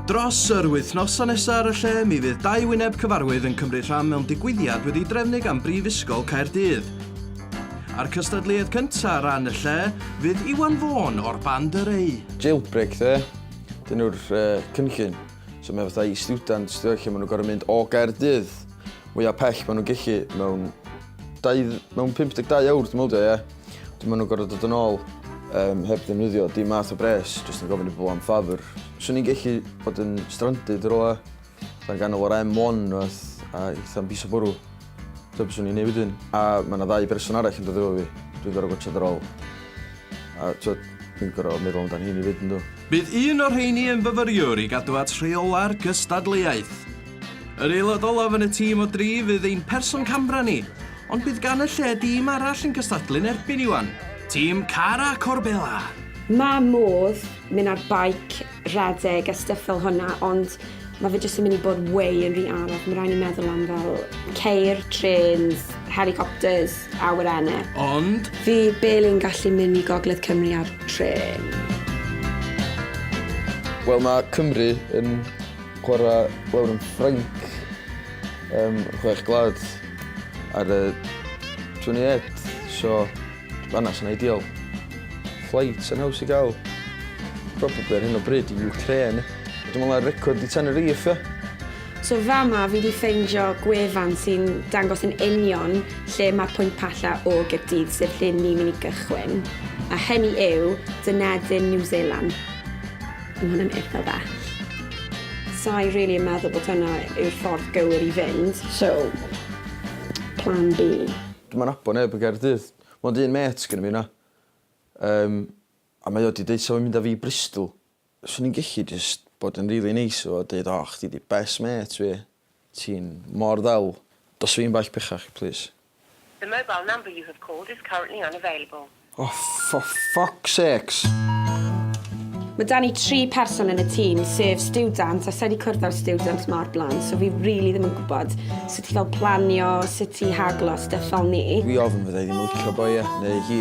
Dros yr wythnosau nesaf ar y lle, mi fydd dau wyneb cyfarwydd yn cymryd rhan mewn digwyddiad wedi drefnu gan Brifysgol Caerdydd. A'r cystadleuaeth cyntaf ar ran y lle fydd Iwan Fôn o'r band yr ei. Jailbreak dde, dyn nhw'r uh, cynllun. So mae fatha i students, lle maen nhw'n gorau mynd o Gaerdydd, mwyaf pell maen nhw'n gallu mewn Dau, mewn 52 awr dwi'n meddwl, ie. Dwi'n meddwl gorau dod yn ôl um, heb ddefnyddio dim math o bres, jyst yn gofyn i bobl am ffafr. Swn i'n gallu bod yn stranded yr ola, dan ganol o'r M1 oeth, a eitha'n bus o bwrw. Dyna beth swn i'n ei wedyn. A mae yna ddau berson arall yn dod efo fi. Dwi'n gorau gwachod ar ôl. A twyd, dwi'n gorau meddwl amdano hyn i fyd yn dod. Bydd un o'r rheini yn fyfyriwr i gadw at rheola'r gystadleuaeth. Yr aelod olaf yn y tîm o dri fydd ein person camera ni, ond bydd gan y lle dîm arall yn cystadlu'n erbyn Iwan, tîm Cara Corbella! Mae modd mynd ar baic, rhedeg a stwff fel hwnna ond mae fe jyst yn mynd i bod way yn rhy anodd, mae rhaid ni meddwl am fel ceir, trêns, helicopters, awyrenau. Ond. Fi barely yn gallu mynd i gogledd Cymru ar trên. Wel mae Cymru yn Chwarae lawr yn Ffrainc yym chwech gwlad ar y 28 so fan'na sy'n ideal. Flight yn haws i gael. Probably ar hyn o bryd i Ukraine. Dwi'n meddwl ar record i Tenerife ia? So fama fi 'di ffeindio gwefan sy'n dangos yn union lle mae'r pwynt palla o Gaerdydd sef lle ni'n mynd i gychwyn a hynny yw Dunedin New Zealand. Mae hwn yn eitha bell. Sa'i rili yn meddwl bod hwnna yw'r ffordd gywir i fynd, so plan B. Dwi'm yn nabod neb yn Gaerdydd. Mond un mêt sgenna fi 'na. Yym, a mae o 'di deud 'sa fo'n mynd â fi i Bristol. Swn i'n gellu jyst bod yn rili neis efo fo a deud 'o chdi 'di best mêt fi'. Ti'n mor ddel. Dos fi'n bell bechach, plîs. The mobile number you have called is currently unavailable. O, for fuck's sakes! Mae 'da ni tri person yn y tîm, sef stiwdant, a sa i wedi cwrdd â'r stiwdant yma o'r blaen, so fi rili ddim yn gwybod sut i fel planio, sut i haglo, stuff fel 'ny. Dwi ofn fydda i ddim yn licio boi e, neu hi.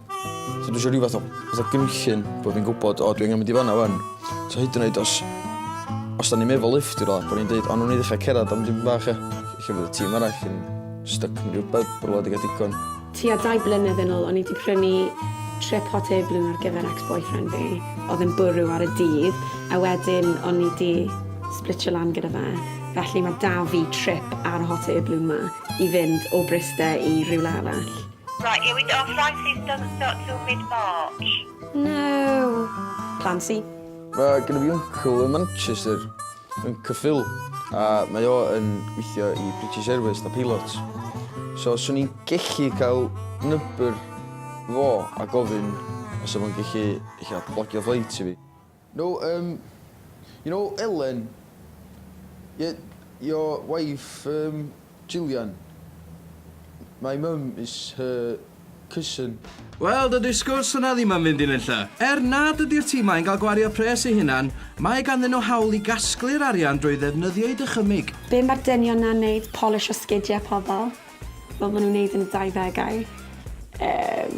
So dwi eisiau rhyw fath o, fath o gynllun bod fi'n gwybod, o, dwi'n mynd i fanna fan. So hyd yn oed os, os da ni'n meddwl lift i rola, bod ni'n dweud, ond nhw'n i ddechrau cerdded am dim bach e. Lle fydd y tîm arall yn stuck yn rhywbeth, bod wedi gael digon. Ti a dau blynedd yn ôl, o'n i wedi prynu trip hot air balloon ar gyfer ex-boyfriend fi, oedd yn bwrw ar y dydd, a wedyn o'n i wedi splitio lan gyda fe. Felly mae da fi trip ar y hot air balloon ma i fynd o Bryste i rhywle arall. Right, here we go. Francis doesn't start till mid-March. No. Clancy. Mae gen i fi uncle yn Manchester, yn Cyffil, a mae o yn gweithio i British Airways da pilot. So, swn i'n gellu cael nybr fo a gofyn os o'n o'n gellu eich blogio flight i fi. No erm you know Elen? Ie your wife erm Gillian? My mum is her cousin. Wel dydi'r sgwrs yna ddim am fynd i nunlle. Er nad ydi'r timau'n cael gwario pres eu hunan, mae ganddyn nhw hawl i gasglu'r arian drwy ddefnyddio'u dychymyg. Be ma'r dynion na'n neud polish o sgidia pobol. fel bo' nw'n neud yn y dau ddegau yym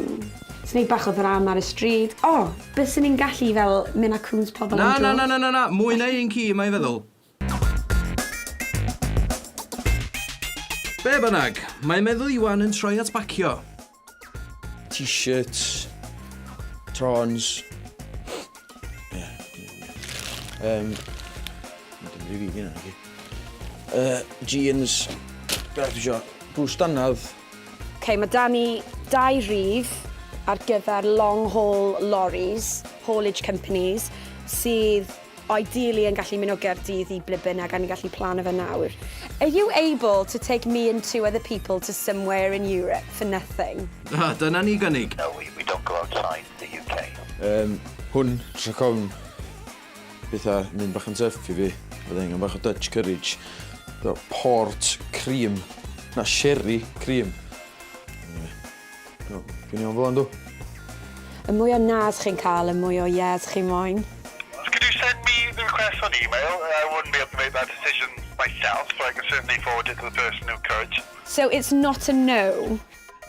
jys neud bach o ddrama ar y stryd. O! Byswn i'n gallu fel myn' a cŵns pobol am dro. Na na na na na mwy na un ci mae feddwl. Be' bynnag, mae meddwl Iwan yn troi at bacio. T-shirts, trons. Yeah. Um, uh, jeans, beth eisiau, bws dannedd. Ok, mae da ni dau rif ar gyfer long haul lorries, haulage companies, sydd Ideally yn gallu mynd o Gaerdydd i ble bynnag a ni'n gallu plano fe nawr. Are you able to take me and two other people to somewhere in Europe for nothing? A dyna ni gynnig! No we we don't go outside the UK. Yym hwn rhag ofn petha mynd bach yn tuff i fi fydda angen bach o Dutch courage fel port cream na sherry cream. O, fi'n iawn fo, yndw? Y mwy o nas chi'n cael, y mwy o yes chi moyn. Could you send me the request on email? I wouldn't be able to make that decision myself, but I can certainly forward it to the person who could. So it's not a no?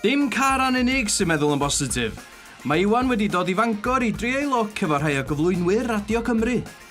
Dim Caran unig sy'n meddwl yn bositif. Mae Iwan wedi dod i Fangor i drio ei lwc efo rhai o gyflwynwyr Radio Cymru.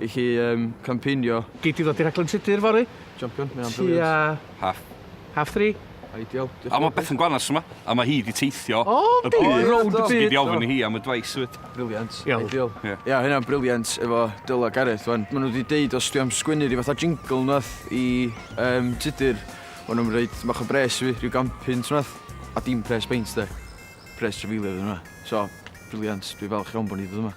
i chi um, campeinio. Gei ti ddod i rhaglen Tudur fory? Champion, mae'n briliant. Tua... Half. Half three? Ideal. A mae beth yn gwanas yma, a mae hi di teithio o, y byd. Rownd y byd. Sy'n gyd ofyn i hi am y dwais ywyd. Briliant. Ideal. Ia, yeah. yeah, hynna'n briliant efo Dyla Gareth. Wan. Maen nhw wedi deud os dwi am sgwynnu rhyw fatha jingle nath i um, tudur. O'n nhw'n rhaid mach o bres fi, rhyw gampyn trwnath. A dim pres beint de. Pres trefilio ydyn nhw. So, briliant. Dwi'n falch iawn bod ni ddod yma.